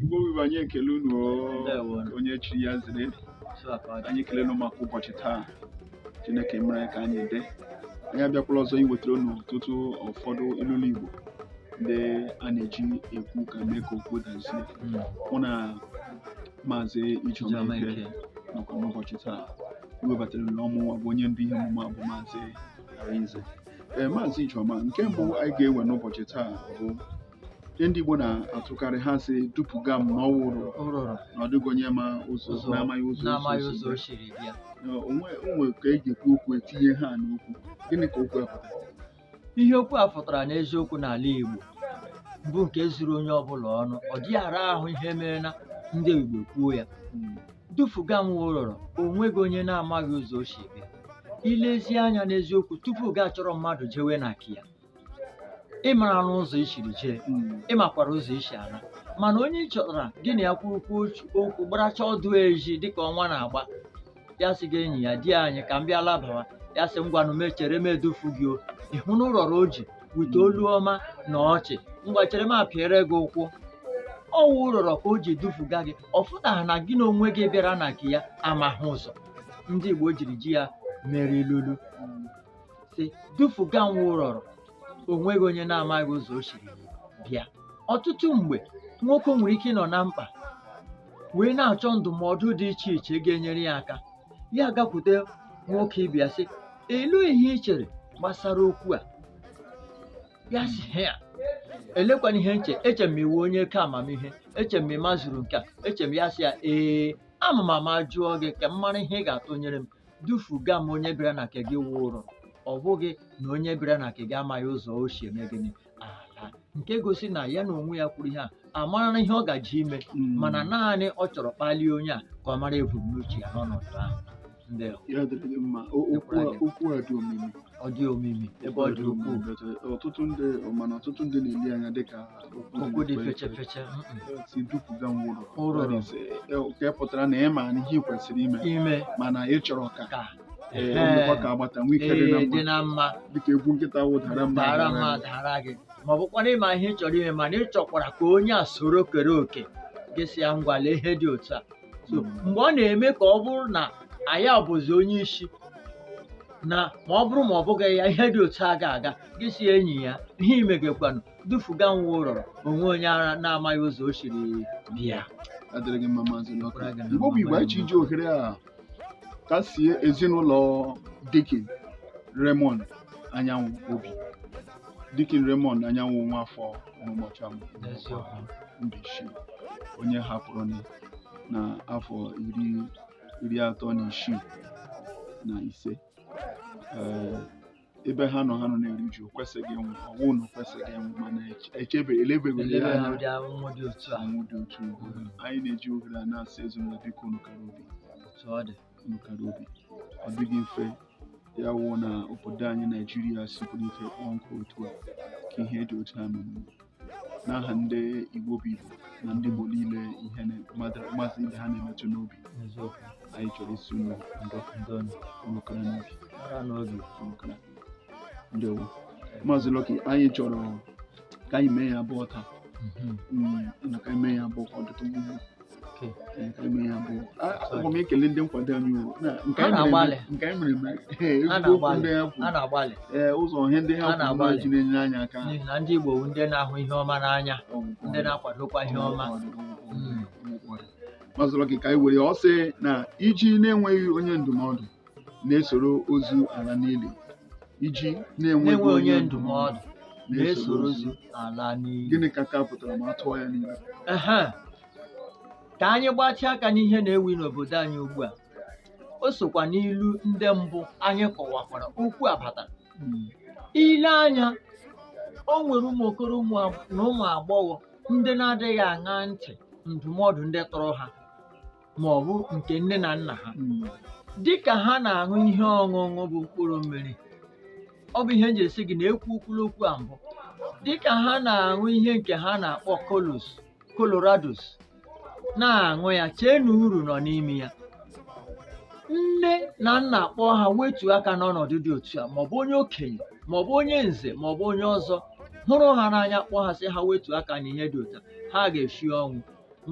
Igbo wụ Igbo anyị ekele unu onye chiri ya zere anyị ekele unu maka ụbọchị taa Chineke mere ka anyị dị anyị abịakwala ọzọ iwetara unu ọtụtụ ụfọdụ ilulu Igbo ndị a na-eji ekwu ka mee ka okwu dazie hmm. mụ na maazị Ijeoma Ike nọkwa n'ụbọchị taa iwebatara unu ọ mụ bụ onye ndu ihe omume a bụ maazị Arinze ee eh, maazị Ijeoma nke mbụ anyị ga-ewe n'ụbọchị taa bụ ihe ndị Igbo na-atụkarị ha sị dupụga m na ọ wụ ụrọrọ na ọ dịghị onye ma ụzọ na-amaghị ụzọ o siri bịa. o nwe ka e ji ekwu okwu etinye ha n'okwu gịnị ka okwu a pụtara ihe okwu a pụtara n'eziokwu n'ala Igbo bụ nke zuru onye ọbụla ọnụ ọ dịghị ara ahụ ihe mere na ndị Igbo kwuo ya Mm, dufuga m ụrọrọ o nweghị onye na-amaghị ụzọ o si bịa i lezie anya n'eziokwu tupu gị achọrọ mmadụ jewe na nke ya ị marana ụzọ i siri jee ị makwara ụzọ i si ala mana onye ị chọtara gị na ya kwurukwu okwu gbaracha ọdụ eji dịka ọnwa na-agba ya sị gị enyi a di anyị ka m bịa labawa ya sị ngwanụ m echere m edufu gị o ịhụ na ụrọrọ o ji wete olu ọma na ọchị ngwa chere m apịara gị ụkwụ ọ wụ ụrọrọ ka o ji dufuga gị ọ fụtaghị na gị na onwe gị bịara na nke ya amaghị ụzọ ndị Igbo jiri ji ya mere ilulu sị dufuga m wụ ụrọrọ o nweghị onye na-amaghị ụzọ o siri bịa ọtụtụ mgbe nwoke nwere ike ịnọ na mkpa wee na-achọ ndụmọdụ dị iche iche ga-enyere ya aka ya gakwute nwoke ibe ya sị elee ihe ị chere gbasara okwu a ya sị ya elekwana ihe m che eche m ị wụ onye ka amamihe eche m ị mazuru nke a eche m ya sị ya ee ama m ama jụọ gị ka m mara ihe ị ga-atụnyere m dufuga m onye bịara na nke gị wụ ụrọ ọ bụghị na onye bịara na nke gị amaghị ụzọ o si eme gịnị ala nke gosi na ya na onwe ya kwuru ihe a amarana ihe ọ gaji ime mana naanị ọ chọrọ kpalie onye a ka ọ mara ebumnuche ya n'ọnọdụ ahụ ndị Ya dịrị gị mma. O- Okwu a- okwu a dị omimi. ọ dị omimi ebe ọ dị ukwuu ọtụtụ ndị mana ọtụtụ ndị na-ele ya anya dịka okwu dị feche feche sị dupụga m ụrọrọ nke pụtara na ị mana ihe ị kwesịrị ime mana ị chọrọ ka ka agbata nwee ike dị na mma dịka egwu nkịta wụ dara m m adara gị ma ọ bụkwa na ị ma ihe ị chọrọ ime mana ị chọkwara ka onye a soro kere oke gị sị ya ngwa lee ihe dị otu a so mgbe ọ na-eme ka ọ bụrụ na ọ ya bụzi onye isi na ma ọ bụrụ ma ọ bụghị ya ihe dị otu a ga-aga gị sị enyi a ihe ị megekwanụ dufuga m wụ ụrọrọ o nweghị onye na-amaghị ụzọ o siri bịa ya dịrị gị mma maazị Lucky. Ọbụla ga-ama Igbo bụ Igbo anyị ji iji ohere a kasie ezinụlọ Deacon Raymond Anyanwụ obi Dikin Raymond Anyanwụ Nwafọ Ọmụmọcha Mbaise onye hapụrụ na afọ iri iri atọ na isii na ise eh, ebe ha nọ ha nọ na-eri uju kwesịghị ịnwụ ọnwụ na kwesịghị ịnwụ mana echebe elebeghị ya anya ọnwụ dị otu anyị na-eji ohere a na-asị ezinụlọ biko unu kara obi nụ kara obi ọ dịghị mfe ya wụ na obodo anyị naijiria sikwuru ike kpọọ nkụ otu a ka ihe dị otu a mere n'aha ndị igbo bụ igbo na ndị igbo niile ihe na- mmadụ- mmasị ibe ha na-emetụ n'obi n'eziokwu anyị chọrọ ịsị unu ndo ndo nụ. nụ kara n'obi kara n'obi nụ kara ndewo Maazị Lucky anyị chọrọ ka anyị mee ya abụọ taa Mhm. Mm, na ka anyị mee ya abụọ ka ọ dịtụ mma aga m ekele ndị nkwado anyị nke anyị mere ee ụzọ ihe ndị ha kwuru ji na-enyere anyị aka n'ihi na ndị Igbo ndị na-ahụ ihe ọma n'anya ndị na-akwadokwa ihe ọma Maazị Lucky ka anyị were ọ sị na iji na-enweghị onye ndụmọdụ na-esoro ozu ala n'ili iji na-enweghị onye ndụmọdụ na-esoro ozu ala n'ili gịnị ka nke a pụtara ma a tụọ ya n'ilu Ehe. ka anyị gbatịa aka n'ihe na-ewu n'obodo anyị ugbu a o sokwa n'ilu ndị mbụ anyị kọwakwara okwu a batara i lee anya o nwere ụmụ okoro ụmụ ag- na ụmụ agbọghọ ndị na-adịghị aṅa ntị ndụmọdụ ndị tọrọ ha ma ọ bụ nke nne na nna ha dị ka ha na-aṅụ ihe ọṅụṅụ bụ mkpụrụ mmiri ọ bụ ihe m ji esi gị na e kwukwuru okwu a mbụ dị ka ha na-aṅụ ihe nke ha na-akpọ colos colorados na-aṅụ ya chee na uru nọ n'ime ya nne na nna kpọọ ha wetuo aka n'ọnọdụ dị otu a maọbụ onye okenye maọbụ onye nze maọbụ onye ọzọ hụrụ ha n'anya kpọọ ha sị ha wetuo aka n'ihe dị otu a ha ga-eshi ọnwụ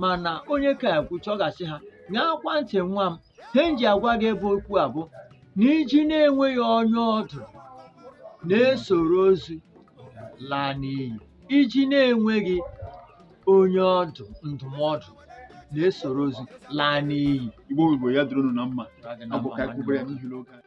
mana onye ka ekwucha ọ ga-asị ha ṅaakwa ntị nwa m ihe m ji agwa gị bụ okwu a bụ na iji na-enweghị onye ọdụ na-esoro ozu laa n'iyi iji na-enweghị onye ọdụ ndụmọdụ na-esoro ozu laa n'iyi igbo igbo ya dịrị unu na mma Ọ dị na ọ bụ mma ka anyị nwanne kwubere ya m. n'ihi na oge anyị